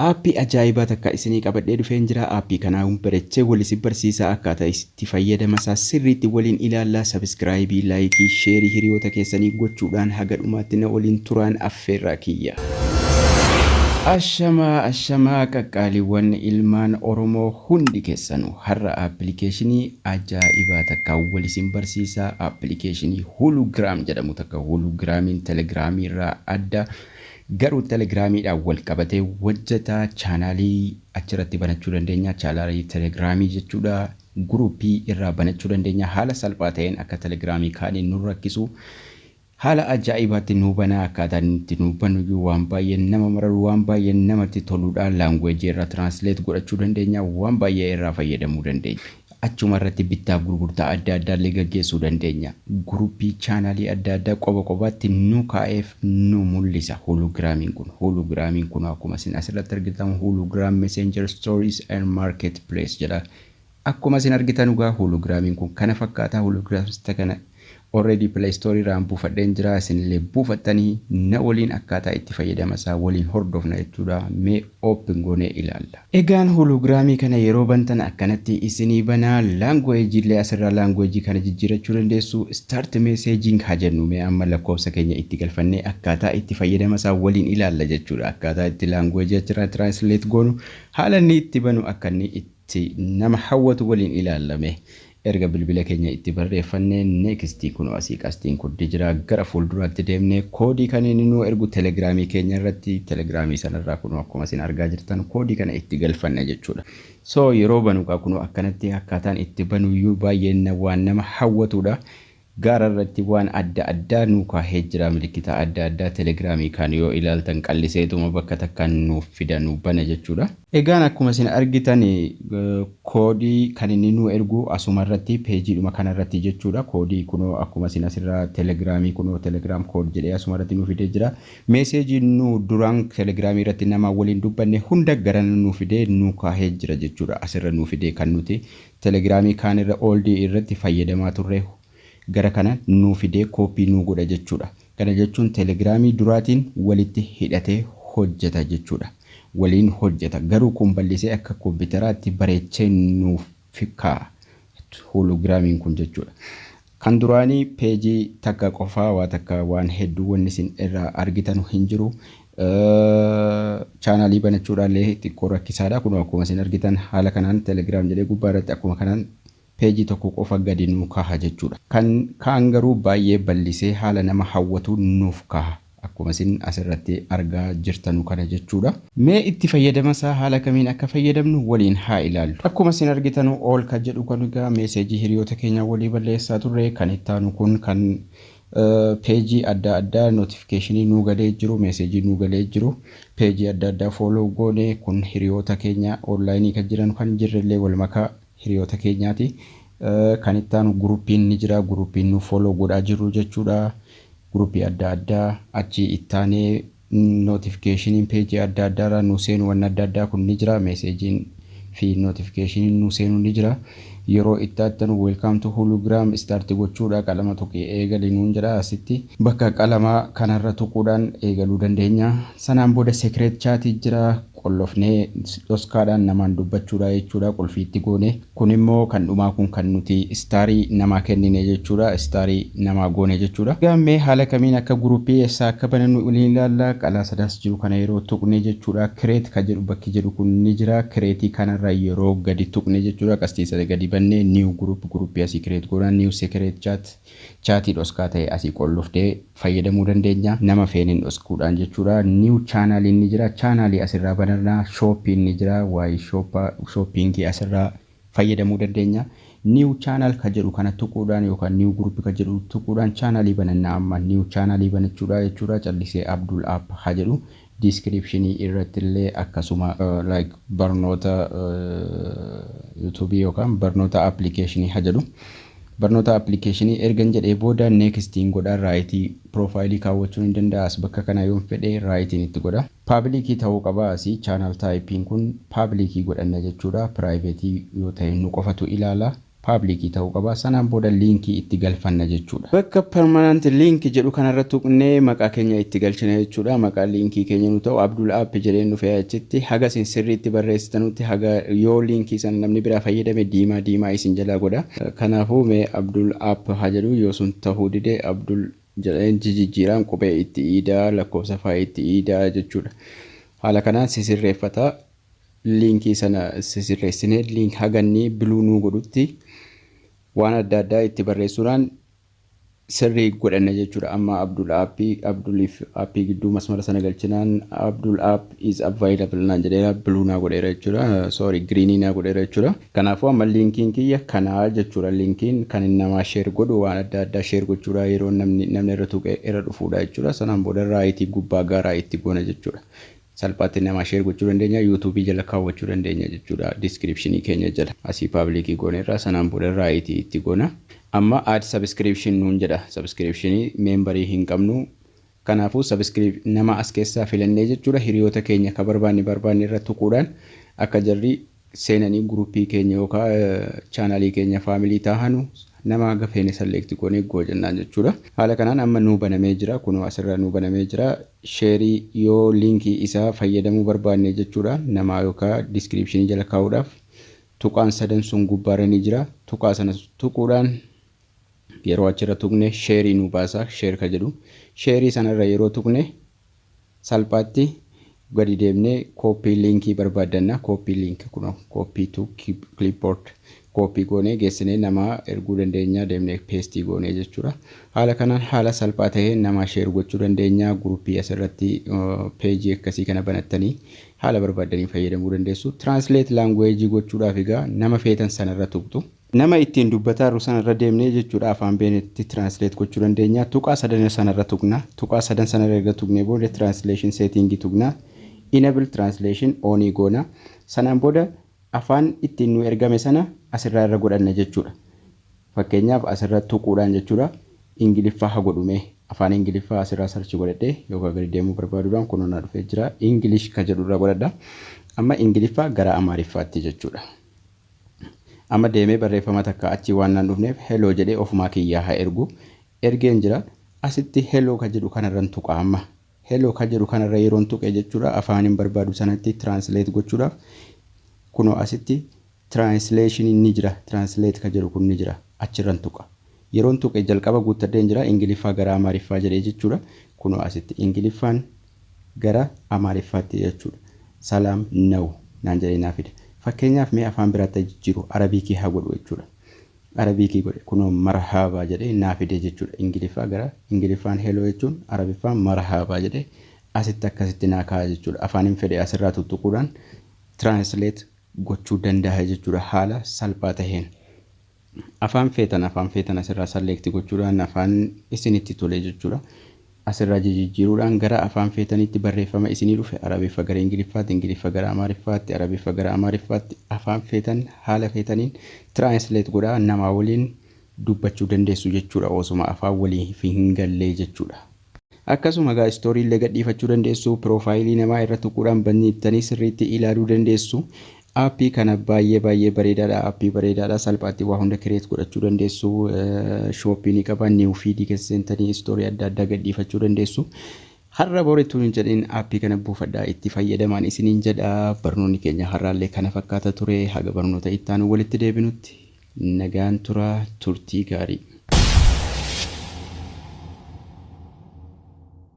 Aappii ajaa'ibaa takka isinii qabadhee dhufeen jira aappii kanaa wun barechee wal isin barsiisaa akkaataa itti fayyadama isaa sirriitti waliin ilaallaa sabiskiraayibii laayikii sheerii hiriyoota keessanii gochuudhaan haga dhumaatti na waliin turaan affeerraa kiyya. Ashamaa ashamaa qaqqaaliwwan ilmaan oromoo hundi kessanu har'a appilikeeshinii ajaa'ibaa takka wal isin barsiisaa appilikeeshinii Hulugram jedhamu takka Hulugramiin Telegiraamii irraa adda garuu Telegiraamiidhaan wal qabatee hojjeta. Chaanaalii achirratti banachuu dandeenya. Chaanaalii Telegiraamii jechuudha. Guruupii irraa banachuu dandeenya. Haala salphaa ta'een akka Telegiraamii kaanii nu rakkisu. Haala ajaa'ibaatti nu banaa akkaataa inni itti nu banuyyuu waan baay'ee nama mararu waan baay'ee namatti toluudha. Laanguweejii irraa tiraansileet godhachuu dandeenya. Waan baay'ee irraa fayyadamuu dandeenya. Achuma irratti bittaaf gurgurtaa adda addaa illee gaggeessuu dandeenya. Guruppii, chaanaalii adda addaa qoba qobaatti nu kaa'eef nu mul'isa Hulugraamiin kun. Hulugraamiin kun akkuma isin as irratti argitan Hulugraam Messenger Stories and Marketplace jedha. Akkuma isin argitan egaa Hulugraamiin kun kana fakkaata. Hulugraams isa kana Already play store irraan buufadheen jira isinillee buufattanii na waliin akkaataa itti fayyadama isaa waliin hordofna jechuudha mee open goonee ilaalla. Egaan hologram kana yeroo bantan akkanatti isinii bana language illee asirraa language kana jijjiirachuu dandeessu start messaging haa jennu mee amma lakkoofsa keenya itti galfannee akkaataa itti fayyadama isaa waliin ilaalla jechuudha akkaataa itti language achirraa translate goonu haala inni itti banu akka inni itti itti nama hawwatu waliin ilaalla mee. Erga bilbila keenya itti barreeffanne next kunoo asii qasxiin kuddi jira gara fuulduraatti deemne koodii kan inni nuu ergu telegiraamii keenya irratti telegiraamii sana irraa kunoo akkuma isin argaa jirtan koodii kana itti galfanna jechuudha. So yeroo banu kaa kunoo akkanatti akkaataan itti banuyyuu baay'ee na waan nama hawwatuudha. Gaara irratti waan adda addaa nuu kaahee jira milikkita adda addaa telegram kaan yoo ilaaltan qalliseetuma bakka takkaan nuuf fida nuu bana jechuudha. Egaan akkuma isin argitan koodii kan inni nuu ergu asuma irratti peejiidhuma kana irratti jechuudha koodii kunoo akkuma isin asirraa telegram kunoo telegram code jedhee asuma irratti nuu fidee jira message nuu duraan telegram irratti namaan waliin dubbanne hunda garana nuu fidee nuu kaahee jira jechuudha asirra nuu fidee kan nuti Telegiraamii kaan irra old irratti fayyadamaa turre gara kana nuu fidee copy nuu godha jechuudha. Kana jechuun telegiraamii duraatiin walitti hidhatee hojjeta jechuudha. Waliin hojjeta. Garuu kun bal'isee akka kompitaraatti bareechee nuuf kaa'a. Holograamiin kun jechuudha. Kan duraanii page takka qofaa waa takka waan hedduu wanni isin irraa argitanu hin jiru. Channel banachuudhaa illee xiqqoo rakkisaadha. Kunoo akkuma isin argitan haala kanaan telegram jedhee gubbaa irratti akkuma kanaan page tokko qofa gadi nuu kaha jechuudha. Kan kaan garuu baay'ee ballisee haala nama hawwatuun nuuf kaha. Akkuma isin as irratti argaa jirtanu kana jechuudha. Mee itti fayyadama isaa haala kamiin akka fayyadamnu waliin haa ilaallu. Akkuma isin argitanu all kan jedhu kun egaa message hiriyoota keenyaa walii balleessaa turre. Kan itti aanu kun kan page adda addaa notification nuu galee jiru message nuu galee jiru page adda addaa follow goone kun hiriyoota keenya online kan jiran kan hin jirre illee wal makaa hiriyoota keenyaati. Kan itti aanu groupiin ni jira. Groupiin nu follow godhaa jirru jechuudha. Groupii adda addaa achii itti aanee notificationin page adda addaa irraa nu seenu wanni adda addaa kun ni jira. Messagein fi notificationin nu seenu ni jira. Yeroo itti attanu welcome to hulugram start gochuudha. Qalama tuqi eegali nuun jedha asitti. Bakka qalamaa kanarra tuquudhaan eegaluu dandeenya. Sanaan booda secret chat jira. qollofnee dhoskaadhaan namaan dubbachuudha jechuudha qulfii itti goone kun immoo kan dhumaa kun kan nuti istaarii namaa kennine jechuudha istaarii namaa goone jechuudha egaa mee haala kamiin akka gurupii essaa akka banannu waliin ilaalla qalaa sadaas jiru kana yeroo tuqne jechuudha create kan jedhu bakki jedhu kun ni jira create kanarra yeroo gadi tuqne jechuudha qastii sana gadi banne new group gurupii asii create goona new secret chat Chaatii dhoskaa ta'e asii qollofnee fayyadamuu dandeenya. Nama feeneen dhoskuudhaan jechuudha. New channel ni jira. Channel asirraa bananna. Shop ni jira. Waa'ee shop shopping asirraa fayyadamuu dandeenya. New channel kan jedhu kana tuquudhaan yookaan new group kan jedhu tuquudhaan channel bananna amma new channel banachuudha jechuudha. Callisee Abdul App haa jedhu. Description irratti illee akkasuma like barnoota YouTube yookaan barnoota application ha jedhu. Barnoota application ergan jedhee booda next hin godha right profile kaawwachuun hin danda'a as bakka kana yoon fedhe right hin itti godha. Public ta'uu qaba asi channel type kun public godhanna jechuudha private yoo ta'e nu qofatu ilaala. Public ta'uu qaba. Sanaan booda link itti galfanna jechuudha. Bakka permanent link jedhu kanarra tuqnee maqaa keenya itti galchina jechuudha. Maqaan link keenya nu ta'u Abdul App jedheen dhufe achitti. Haga isin sirriitti barreessitanutti haga yoo link sana namni biraa fayyadame diimaa diimaa isin jalaa godha. Kanaafuu mee Abdul App haa jedhu yoo sun ta'uu dide Abdul jedheen jijijjiiraan qubee itti iida, lakkoofsa fa'aa itti iida jechuudha. Haala kanaan sisirreeffata. link sana sisirreessinee link haganni biluu nuu godhutti waan adda addaa itti barreessuudhaan sirrii godhanna jechuudha. Amma Abdul app Abdul fi app gidduu masmara sana galchinaan Abdul app is available naan jedheera biluu naa godheera jechuudha. Sorry green naa godheera jechuudha. Kanaafuu amma linkiin kiyya kanaa jechuudha. Linkiin kan inni namaa share godhu waan adda addaa share gochuudha yeroo namni namni irra tuqee irra dhufuudha jechuudha. Sanaan booda raayitii gubbaa gaaraa itti goona jechuudha. salphaatti namaa share gochuu dandeenya youtube jala kaawwachuu dandeenya jechuudha description keenya jala asii public gooneerra sanaan booda right itti goona amma add subscription nuun jedha subscription member hin qabnu kanaafuu subscribe nama as keessaa filannee jechuudha hiriyoota keenya ka barbaanne barbaanne irra tuquudhaan akka jarri seenanii group keenya yookaa channel keenya family taahanu nama haga feene select goone go jennaan jechuudha haala kanaan amma nuu banamee jira kunoo asirra nuu banamee jira share yoo link isaa fayyadamuu barbaanne jechuudha namaa yookaa description jala kaa'uudhaaf tuqaan sadan sun gubbaarra ni jira tuqaa sana tuquudhaan yeroo achirra tuqne share nuu baasa share ka jedhu share sanarra yeroo tuqne Salphaatti gadi deemnee copy link barbaaddanna. Copy link kunoo copy to clipboard copy goonee geessinee namaa erguu dandeenya deemnee paste goonee jechuudha. Haala kanaan haala salphaa taheen namaa share gochuu dandeenya. Group asirratti page akkasii kana banattanii haala barbaaddaniin fayyadamuu dandeessu. Translate language gochuudhaaf egaa nama feetan sanarra tuqxu. Nama ittiin dubbataarru sana irra deemnee jechuudha afaan beenetti translate gochuu dandeenya. Tuqaa sadan sana irra tuqna. Tuqaa sadan sana irra erga tuqnee booda translation setting tuqna. Enable translation on goona. Sanaan booda afaan ittiin nuu ergame sana asirraa irra godhanna jechuudha. Fakkeenyaaf asirra tuquudhaan jechuudha. Ingiliffaa ha godhu mee. Afaan Ingiliffaa asirraa search godhadhee yookaan gadi deemuu barbaaduudhaan kunoo naa dhufee jira. English ka jedhu irra godhadha. Amma Ingiliffaa gara Amaariffaatti jechuudha. Amma deemee barreeffama takka achii waan naan dhufneef hello jedhee ofumaa kiyyaa haa ergu. Ergeen jira. Asitti hello ka jedhu kanarran tuqa amma. Hello ka jedhu kanarra yeroon tuqe jechuudha afaanin barbaadu sanatti translate gochuudhaaf kunoo asitti translation ni jira translate ka jedhu kun ni jira achirran tuqa. Yeroon tuqe jalqaba guuttadheen jira Ingiliffaa gara Amaariffaa jedhee jechuudha. Kunoo asitti Ingiliffaan gara Amaariffaatti jechuudha. Salaam now naan jedhee naa fide. Fakkeenyaaf mee afaan biraatti haa jijjiiru, Arabiikii haa godhu jechuudha. Arabiikii godhe. Kunoo Marhaabaa jedhee naa fide jechuudha. Ingiliffaa gara Ingiliffaan hello jechuun Arabiffaan Marhaabaa jedhee asitti akkasitti naa kaa'a jechuudha. Afaanin fedhe asirraa tuttuquudhaan translate gochuu danda'a jechuudha haala salphaa taheen. Afaan feetan afaan feetan asirraa select gochuudhaan afaan isinitti tole jechuudha. Asirraa jijijjiiruudhaan gara afaan feetaniitti barreeffama isinii dhufe Arabiffa gara Ingiliffaatti, Ingiliffa gara Amaariffaatti, Arabiffa gara Amaariffaatti afaan feetan haala feetaniin translate godhaa namaa waliin dubbachuu dandeessu jechuudha osoma afaan waliif hin gallee jechuudha. Akkasuma egaa story illee gadhiifachuu dandeessu. Piroofaayilii namaa irra tuquudhaan banniittanii sirriitti ilaaluu dandeessu. Aappii kana baay'ee baay'ee bareedaadha. Aappii bareedaadha. Salphaatti waa hunda create godhachuu dandeessu. Shooppii ni qaba. New feed keessa seentanii story adda addaa gadhiifachuu dandeessu. Har'a bor ittuu hin jedhin aappii kana buufadhaa itti fayyadamaan isiniin jedha. Barnoonni keenya har'aallee kana fakkaata ture. Haga barnoota itti aanu walitti deebinutti Nagaan turaa turtii gaarii.